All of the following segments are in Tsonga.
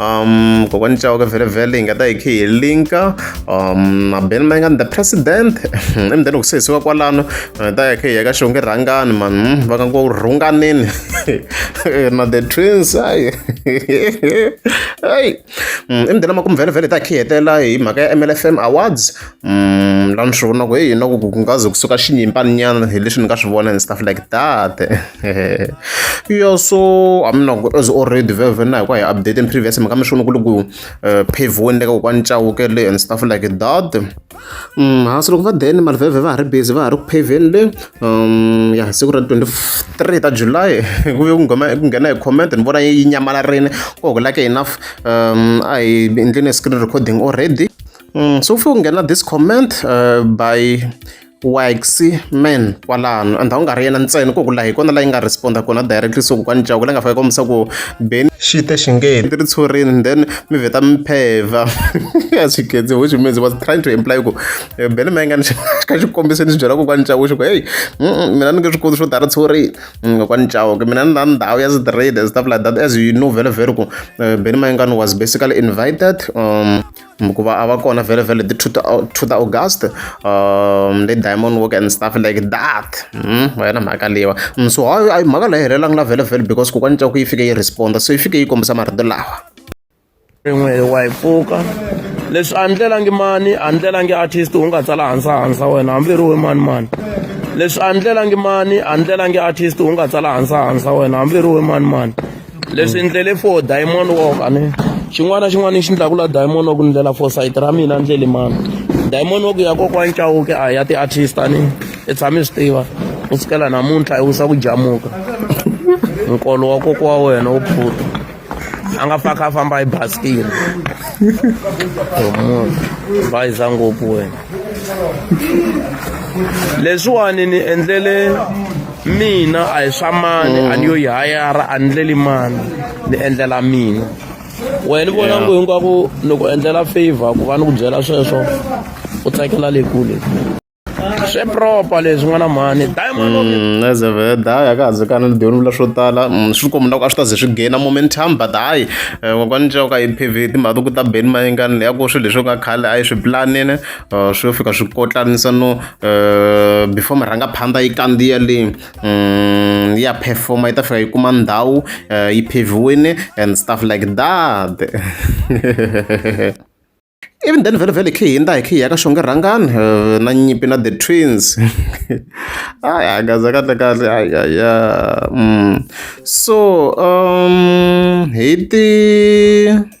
um kokwani chauke vhele vhele hi nga ta hi khe hi linka um mabeni ma nga ni the president emdeni ku sesiwa kwalano hi ta hi khe hi ya ka xonge rhangani man hmm, va ka ngo rhunganini na the twins ayi ayi emdeni hmm, ma ku mvhele vhele hi ta hi khe hi hetelela hi mhaka ya mlfm awards Mm, la ni swi vona ku heyi na ku ku nga ze kusuka xinyimpaninyana hi leswi ni nga swi vona and stuff like that yo so a mi na ku as already veve na hi ku hi update in previous mhaka mi swi vona ku ri ku eh, pavoni le ka kokwani chawuke le and stuff like that mm, hansi loko va deni mali veve va ha ri busy va ha ri ku paveni le um, ya siku ra 23 ta july ku ve ku nghena hi comment ni vona yi nyamalarini ku hokulake enough um, a hi endleni screen recording already mm, so ufike unghena this comment uh, by waxy man kwalano and a wu nga ri yena ntsena ku ku laha hi kona la yi nga responda kona directly so ku kwani jaku la nga fake kombisa ku beni xi te xingheni ti ri tshurini then mi vheta mi pheva a swi khetsi which means was trying to imply ku eh, beni ma yi nga ni ka xikombiso ni swi byela ku kwani jaku xi ku heyi mina ni nge swi koti swo tala tshurini mm, kwani jaku mina ni na ndhawu ya straight stuff like that as you know very very ku eh, beni ma yi nga ni was basically invited um hikuva a va kona very very the two ta two ta august um le diamond work and stuff like that mm va yona mhaka leyiwa mm, so hayi hayi mhaka leyi helelanga la vhele vhele because kokwani cako yi fike yi responda so yi fike yi kombisa marito lawa rin'we wa yi pfuka leswi a ndlelangi mani a ndlelangi artist u nga tsala hansa hansa wena hambi ri we mani mani leswi a ndlelangi mani a ndlelangi artist u nga tsala hansa hansa wena hambi ri we mani mani leswi endlele for diamond walk a ni xin'wana na xin'wana lexi endlaku la diamond walk ni ndlela for sayiti ra mina ndleli mani diamond walk ya kokwani cawuke a ya ti-artist a ni i tshame swi tiva u sukela namuntlha i wisa ku jamuka nkolo wa koko wa wena wu pfuta a nga faka a famba hi baskile munhu bayiza ngopfu wena leswiwani ni endlele mina a hi swa mani a ni yo yi hayara a ni leli mani ni endlela mina wena ni vona ngo hinkwako ni ku endlela favor ku va ni ku byela sweswo u tsakela le kule swi proper leswi n'wana mhani dayimazeve mm, daya ka hanzi kana ni dyoni vula swo tala mm, swi kombi na ku a swi ta ze swi gaina momentum but hayi eh, kokwana ncaka hi pv timhaka to ku ta beni mayingani leya ku swilo leswi nga khale a yi swi pulanini Uh, swi yo fika swi kotlanisa no uh, before murhangaphandha yi kandziya le um, ya performa yi ta fika yi kuma ndhawu uh, yi pheviwini and stuff like that even then vele vele khe hi nda hi khe hi ya ka xonge rhangani eh, na nyipi na the twins ayi angaza kahle kahle ayaya mm. so um hi ti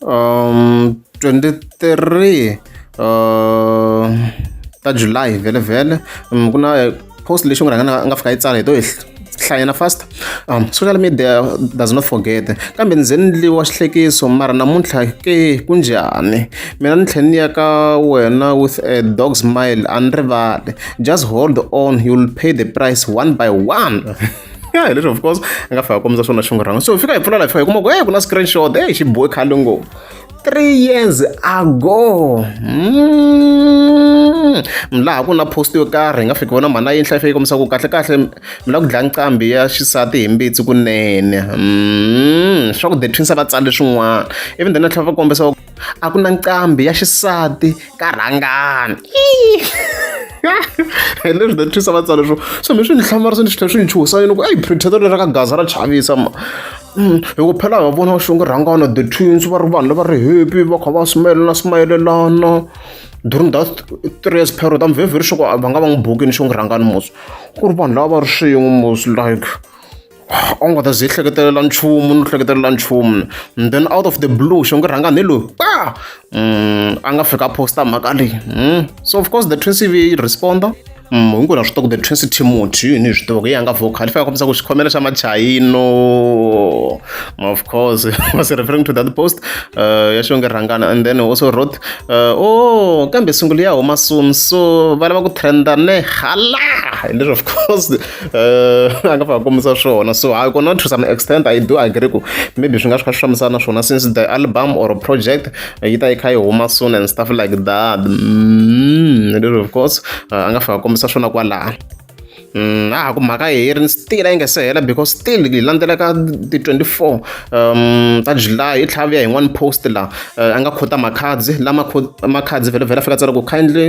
um 23 uh, ta july vhele vhele um, ku na eh, post lexi n'wi rhangana a nga fika yi tsala hi to hlayana fast um, social media does not forget kambe ndzi endliwa xihlekiso mara namuntlha ke ku njhani mina ni tlhela ni ya ka wena with a dog smile a ni rivali just hold on you'll pay the price one by one ya hi leswi of course a nga fika kombisa swona xinghorhanga so fika hi pfula la fika hi kuma ku hey ku na screenshot hey xi bohe khale ngopfu three years ago mm. laha ku na post yo karhi hi nga fiki vona mhana yinhla fike kombisa ku kahle kahle mi la ku dlaya nqambi ya xisati hi mbitsi kunene mm. swa ku the twins va tsale swin'wana even the natlhela va kombisa a ku na nqambi ya xisati ka rhangani hi leswi ta twisa va tsala leswo so mi swi ni hlamari swi ni swi tlhela swi ni chuhisa yini ku eyi printeto leri ka gaza ra chavisa ma mm, hi ku phela va vona xonge rhangana the twins va ri vanhu lava ri happy va kha va smayelana smayelelana during that three years period am very very sure va nga va n'wi bukini xonge rhangani mos ku ri vanhu lava va ri swin'we mos like a wu nga ta ze yi hleketelela nchumu ni hleketelela nchumu and then out of the blue xo nge rhanga ni loyi pa mm, a nga fika posta mhaka leyi mm. so of course the twin cv yi responda mm, hinkwenu na swi tiva ku the twin city timoti yini hi swi tiva ku yi yanga vocal fana kombisa ku xikhomela xa machayino of course was referring to that post uh, ya xonge rhangana and then also wrote uh, oh kambe sungula ya huma soon so va lava ku trenda ne hala and then of course Eh, a nga fa kombisa swona so i cannot to some extent i do agree ku maybe swi nga swi kha swi fambisana swona since the album or project eh, yi ta yi kha yi huma soon and stuff like that mm, lero of course eh, a nga fa kombisa swona kwalaha mm, a ha ku mhaka heri ni still a yi nga se hela because still yi landzela ka ti-24 um ta july i tlhavuya hi n'wani post laha a nga khota makhadzi lama makhadzi vhele vhele a fika tsala ku kindly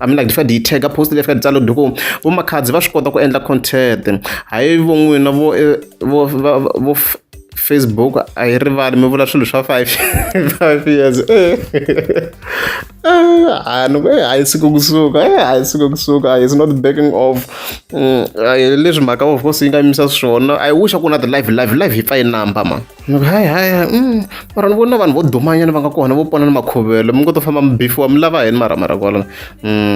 I mean like ndzi fika ndzi yi tag post leyi fika ndzi tsala ndzi ku vo makhadzi va swi kota ku endla content hayi vo n'wina vo eh, vo vo facebook a yi rivali mi vula swilo swa five five years eh. Ah, no eh, hayi siku kusuka eh, hayi siku kusuka is not backing off mm, leswi mhaka of course yi nga yimisa swona i wish a ku na ti live live live yi pfa yi number ma Ni ku hayi hayi mara ni vona vanhu vo dumanyana va nga kona vo pona ni makhuvelo mi ngo to famba mi bifiwa mi lava yini mara mara kwala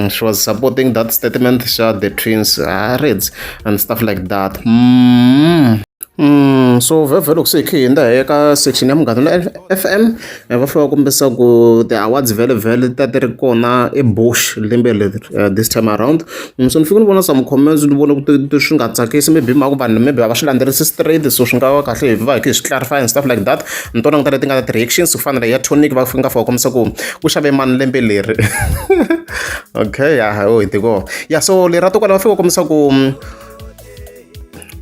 she was supporting that statement xa the twins ha reds and stuff like that mm. Mm, so vhevhe loko se hi khe hi hindza hi ya ka section ya munghana na f m E va fane va kombisa ku ti-awards vhele-vhele ti ta ti ri kona eBush lembe leri this time around. So ni fike ni vona some comments ni vona ku swi nga tsakisi maybe hi mhaka ku vanhu maybe a va swi landzelerisi straight, so swi nga va kahle hi va hi kha hi swi clarify and stuff like that. Ni to languta leti nga na ti-reactions ku fana na leyi ya Tonic va nga fika va kombisa ku ku xave mani lembe leri okay ya hi tekoho ya so leri ra va fika va kombisa ku.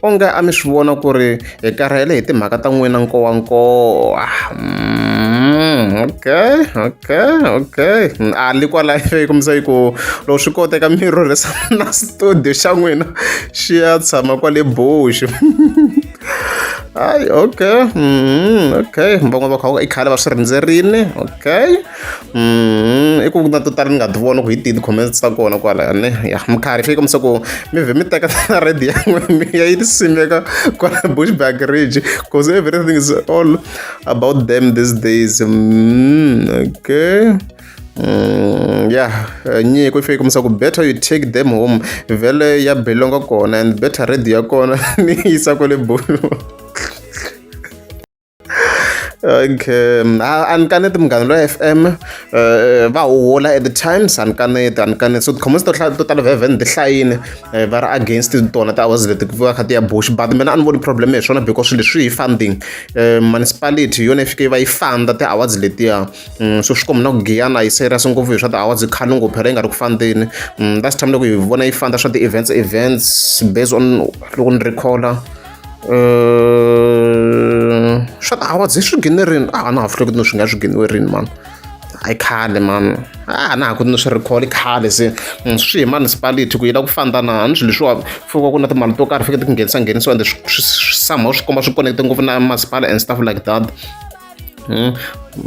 onge a mi swi vona ku ri hi karhele hi timhaka ta n'wina nkowankowa mm, okay okay okay a li kwalayo yi kombisa yi ku loko swi koteka mi rhurhisa na studio xa n'wina xi ya tshama kwale bush hayi okay mm, okay van'wana va kha i khale va swi rindzerile okay i ku na to tala ni nga ti vona ku hi tihi ti-comments ta kona kwala ne ya minkarhi yi fika misa ku mi vhe mi teka na redi ya n'wina mi ya yi ti simeka kwala bushback ridge because everything is all about them these days mm, okay Mm, yeah nyiko yi fike misa ku better you take them home vhele ya belonga kona and better redi ya kona ni yisa kwale bulu okay um, a ni kaneti munghana loyi f m eh, eh, va huhula at the times a ni kaneti a ni kaneti so tikhomosi to to tala vevhen ti hlayini eh, va ri against tona ti hours leti va kha ti ya bush but mina a ni voni problem hi swona because swilo leswi hi funding municipality hi yona yi fike yi va yi funda ti hours letiya mm, so swi komi na ku giyana yi serious ngopfu hi swa ti hours khale ngopfu phela yi nga ri ku fandeni mm, last time loko hi vona yi funda swa ti-events events based on loko ni recalla swa tiawara hi swi gine rini a na ha fuli ku ni swi nga swi giniwe rini mani a yi khale mani a na ha ku ni swi recall i khale se mm, swi hi municipality ku yi la ku fanda na ni swilo leswiwa fika ku na timali to karhi fike ti nghenisa nghenisiwa ende somehow swi komba swi connecte ngopfu na masipala and stuff like that Hmm?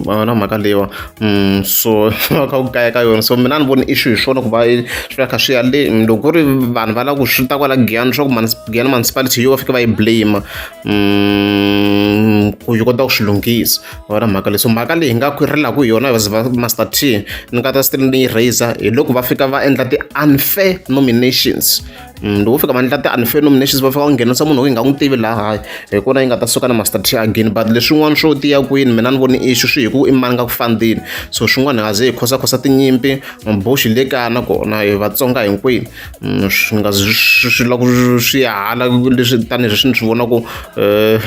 va na mhaka leyiwa hmm, so va kha ku kaya ka yona so mina ni voni issue hi swona ku va swi va kha swi ya le loko ku ri vanhu va lava ku swi ta kwala giyani swa ku giyani municipality yo va fike va yi blame hmm, ku yi kota ku swi lunghisa va na mhaka leyi so mhaka leyi hi nga khwirhelaka hi yona as master t ni nga ta still ni yi raiser hi loko va fika va endla ti-unfair nominations Mm, loko fika vandla ti-unfenominations va fika va nghenisa munhu loyi hi nga n'wi tivi laha hi kona yi nga ta suka na mastrategy again but leswin'wana swo tiya kwini mina ni voni ixu swi hi ku i mani nga ku fandini so swin'wana hi nga ze hi khosakhosa tinyimpi maboxi le kaya na kona hi vatsonga hinkwini mm, swi nga swi lava ku swi ya hala leswi tanihi leswi ni swi vonaku um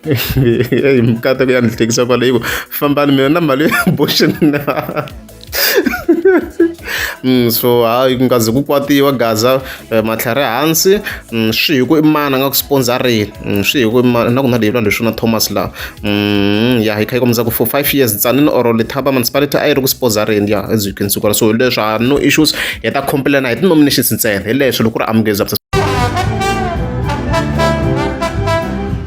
eh, hi mikateko ya ni hlekisa kwaleyi ku fambani mina na mali ya boxi na mm, so hayi ku nga ze ku kwatiwa gaza eh, matlhari hansi mm, swi hi ku i mani a nga ku sponsorini mm, swi hi ku na ku na leyi lwana leswi na thomas laha mm, ya hi kha yi kombisa ku for five years tsanini or lethaba municipality a yi ri ku sponsorini ya as you can see kwala so hi leswi ha no issues hi ta complaina hi ti-nominations ntsena hi leswi loko ku ri amukeza